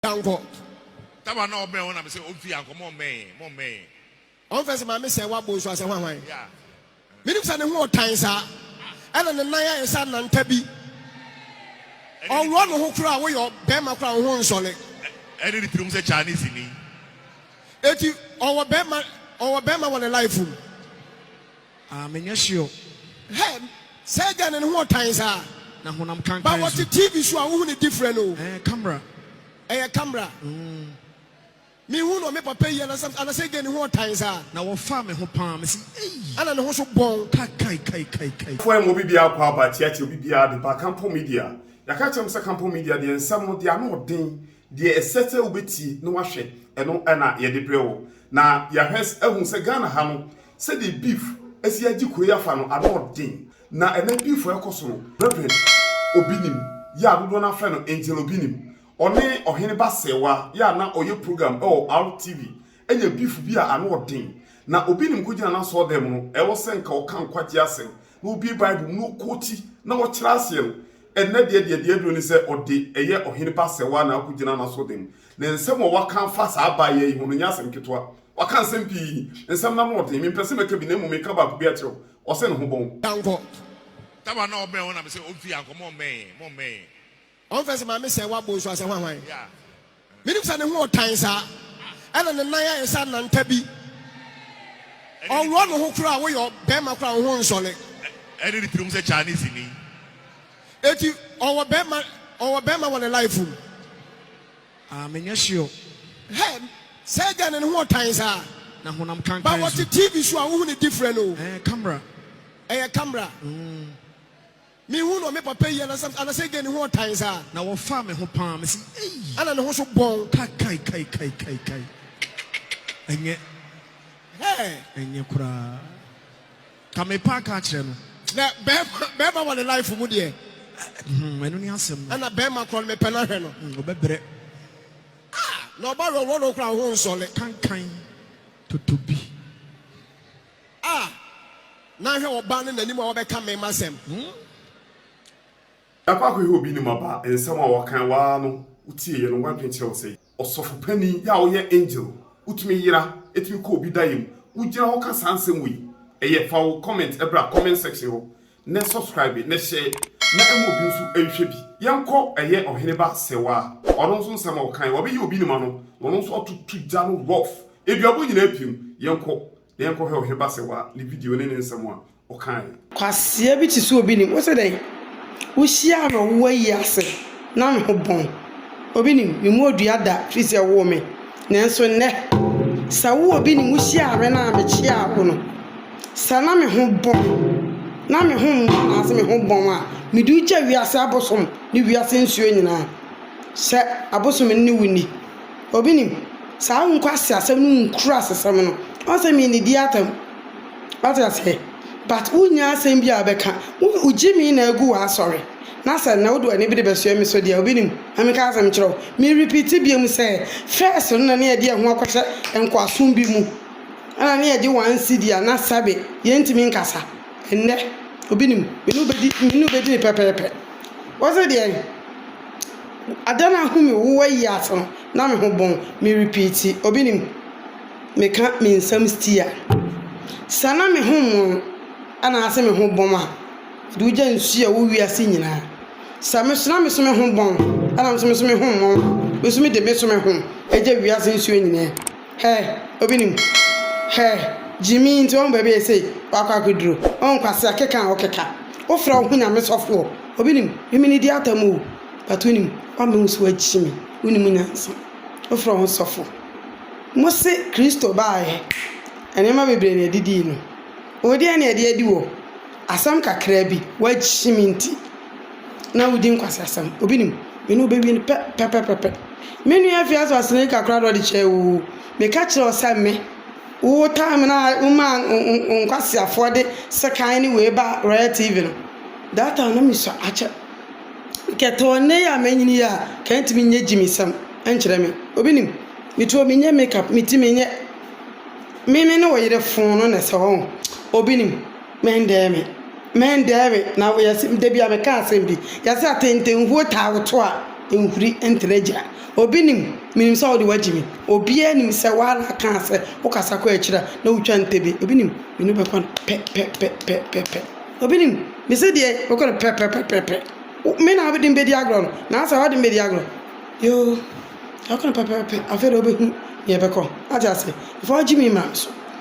Dankɔ. Taba na ɔbɛn hɔ na mi sɛ o fi ankɔ mo mmɛn yɛn mo mmɛn yɛn. Ɔn fɛ sɛ maame sɛ wabɔ nsu asɛ hwan hwan. Yeah. Me nim sɛ ne ho ɔtan saa ɛna ne nan ayɛ sɛ ananta bi. Ɔwɔ ne ho koraa woyɛ bɛrima koraa wo ho nsɔle. Ɛne ne tirim sɛ Chinese ni. Eti ɔwɔ bɛrima ɔwɔ bɛrima wɔ ne life mu. Ah menyɛ sure. Hey sɛ agya no ne ho ɔtan saa. Na honam kankan so. Ba wɔte TV so a wohu ne different o. Ɛɛ camera. Ɛyɛ camera. Mm. Me hu no me papa yi anasɛ anasɛ gɛ ne ho ɔtan saa. Na wɔfaa me ho paa me si ei. Ana ne ho so bɔn. Ka kai kai kai kai. Fo ɛma obi biara kɔ aba tia tia obi biara de ba Kampong Media. Yɛaka akyerɛ mo sɛ Kampong Media deɛ nsɛm no deɛ ano ɔden Deɛ ɛsɛ sɛ wobɛtie na woahwɛ, ɛno na yɛde brɛ wo. Na yɛahwɛ ahu sɛ Ghana ha no, sɛdeɛ beef asi agye kuro yi afa no, ano ɔden. Na ɛnnɛ beef a ɛkɔ so no, Rev. Obinim, yɛ a dodoɔ no ara frɛ no Angel Obinim, ɔne Ɔhene Bassewa, yɛ a na ɔyɛ program wɔ RTV Nya beef bi a ano ɔden, na obi nim kogyina n'asɔɔdan mu no, ɛwɔ sɛ nka ɔka nkwagye asɛm, na obue Bible mu na ɔkoti, na ɔkyerɛ aseɛ no. Ɛnnɛ deɛ, deɛ deɛ aduro ne sɛ ɔde ɛyɛ ɔhene ba sɛwaa na akɔgyina n'asɔɔdan mu. Na nsɛm a waka afa saa abaayewa yi ho no nyɛ asɛm ketewa. Waka nsɛm pii. Nsɛm no ano ɔden. Mempɛ sɛ mɛka bi, na mmom meka baako bi akyerɛ wo. Ɔse ne ho bɔn. Yankɔ. Taba na ɔbɛn hɔ na mese ɔmfiri Yankɔ, mommɛn yɛn, mommɛn yɛn. Ɔmfrɛ sɛ maame sɛɛ wabɔ nsu asɛ hwahwan. Menim sɛ ne ho ɔtan saa. Ɛna ne nan ayɛ sɛ ananta bi. Ɔworɔ ne ho koraa woyɛ bɛrima koraa wo ho nsɔre. Ɛne ne tirim sɛ Chinese ni. Eti ɔwɔ bɛrima ɔwɔ bɛrima wɔ ne life mu. Ah menyɛ sure. Hɛ sɛɛ gɛɛ no ne ho ɔtan saa. Na honam kankan nso. Ba wɔte TV so a wohu ne different o. Ɛɛ camera. Ɛyɛ camera. Mm. Me hu no me papa yi anasam anasɛ ɛdeɛ ne ho ɔtan saa. Na wɔ faa me ho paa me se ei. Ana ne ho so bɔn. Ka kai kai kai kai kai ɛnyɛ. Hɛɛ. Ɛnyɛ koraa. Ka me paa ka akyerɛ no. Na bɛɛma bɛɛma wɔ ne life mu deɛ. Hmm ɛno ne asɛm no. Ana bɛɛma korɔ no me pɛ no ahwɛ no. Hmm ɔbɛ brɛ. Ah na ɔba wrɔwrɔ no koraa wo ho nsɔle. Kankan totobi. A, na hwɛ ɔbaa no n'anim a wabɛka me m'asɛm. Ɛkɔ akɔyɛ obi ne ma ba nsɛm a ɔkan waa no wotie yɛ no wadwen kyerɛ wo sɛ ɔsɔfo panin yɛ a woyɛ angel wotumi yera ɛtumi kɔ obi daeɛ mu wogyina hɔ ka saa nsɛm wei ɛyɛ fa wo comment ɛbra comment section hɔ na subscribe na share na ɛma obi nso nhwɛ bi. Yɛnkɔ ɛyɛ ɔhene ba sewaa ɔno nso nsɛm a ɔkae wɔbɛyɛ obi ne ma no na ɔno nso atoto gya no rough aduabɔ nyinaa pirim yɛnkɔ na yɛnkɔ hwɛ ɔhene ba sewaa ne video ne ne nsɛm a ɔkae. Kwasea bi te sɛ obi nim wo sɛ dɛn? Wo hyia no a wo ayi ase. na me ho bɔn. Obi nim, me mu odua da firi sɛ wowɔ me. Nanso nnɛ, sɛ wo obi nim wo hyiaa me na mekyeaa wo no, sɛ na me ho bɔn, na me ho mmɔ anaasɛ me ho bɔn a, mede wo gya wiase abosom ne wiase nsuo nyinaa. Sɛ abosom ne wo nni. Obi nim, saa wo nkwaseasɛm ne wo nkurasesɛm no, woahu sɛ mennidi atam. Wate aseɛ? But wonnya asɛm biara wobɛka. Wo, wogye me na agu w'asɔre. Na sɛ na wode w'ani bi rebɛsoɛ me so deɛ a, obi nim. Ma menka asɛm nkyerɛ wo. Me repeati biom sɛ, first no na ne yɛde yɛn ho akɔhyɛ nkoasom bi mu. Ɛna ne yɛgye one cedi anaa sɛbe. Yɛntumi nkasa. Ɛnnɛ, obi nim. Me ne wo bɛdi, me ne wo bɛdi no pɛpɛɛpɛ. Wose deɛn? Ada no ahu me wo ayi ase no, na me ho bon. Me repeati, obi nim. Meka me nsɛm stia. Sɛ na me ho mmon anaase me ho bom a, Mede wo gya nsu a ɛwɔ wiase nyinaa. Sɛ me so na me so me ho bɔn, ɛna me so me so me ho mmɔn a, me so mede me so me ho agya wiase nsuo nyinaa. Hɛ! Obi nim? Hɛ! Gyimii nti wahu baabi a ɛsɛ sɛ wakɔ akɔduro. Wahu kwasea keka a ɔkeka. Wofrɛ wo ho Nyame sɔfoɔ. Obi nim? Mimi ne di atam o, but wonim? Woamma wo so agye me. Wonim nyansa. Wofrɛ wo ho sɔfo. Mose Kristo baeɛ, nneɛma bebree na ɛdidii no. Wo deɛ na ɛde adi wo. Asɛm kakraa bi, w'akyi me nti na wodi nkwasiasɛm. Obi nim? Me ne wo bɛwie no pɛ, pɛpɛpɛpɛ. Me nua Afiase Ɔsene kakra na ɔde kyɛɛ wo o. Meka kyerɛɛ wo sɛ me, wo tan me na womaa nkwasiafoɔ de sekan ne wei baa Royal TV no. That time na mesua akyɛ. Kɛ tɔ nnɛ yi a manyini yi a, kɛ ntumi nyɛ gyimisɛm nkyerɛ me. Obi nim? Me tuo menyɛ makeup, me ti menyɛ. Me me ne wo yere foo no na ɛsɛ hɔ o. Obi nim? Mɛndɛɛ me, mɛndɛɛ me, na yɛse da bi a meka asɛm bi, yɛse atɛntɛnhuo taa woto a nhuri ntena agyina. Obi nim, menim sɛ wode wagye me, obiara nim sɛ woara kaa sɛ wokasa kɔ akyiri a na wotwa ntɛbi, obi nim, me ne wo bɛkɔ no pɛ pɛ pɛ pɛ pɛ pɛ, obi nim, mese deɛ bɛkɔ no pɛ pɛ pɛ pɛ pɛ, wo me na wode me bɛdi agorɔ no, nansa wode me bɛdi agorɔ, yoo, yɛbɛkɔ no pɛ pɛ pɛ pɛ, afei na wobɛhunu deɛ ɛbɛkɔ, wate aseɛ, mfa wo gyimii mmra me so.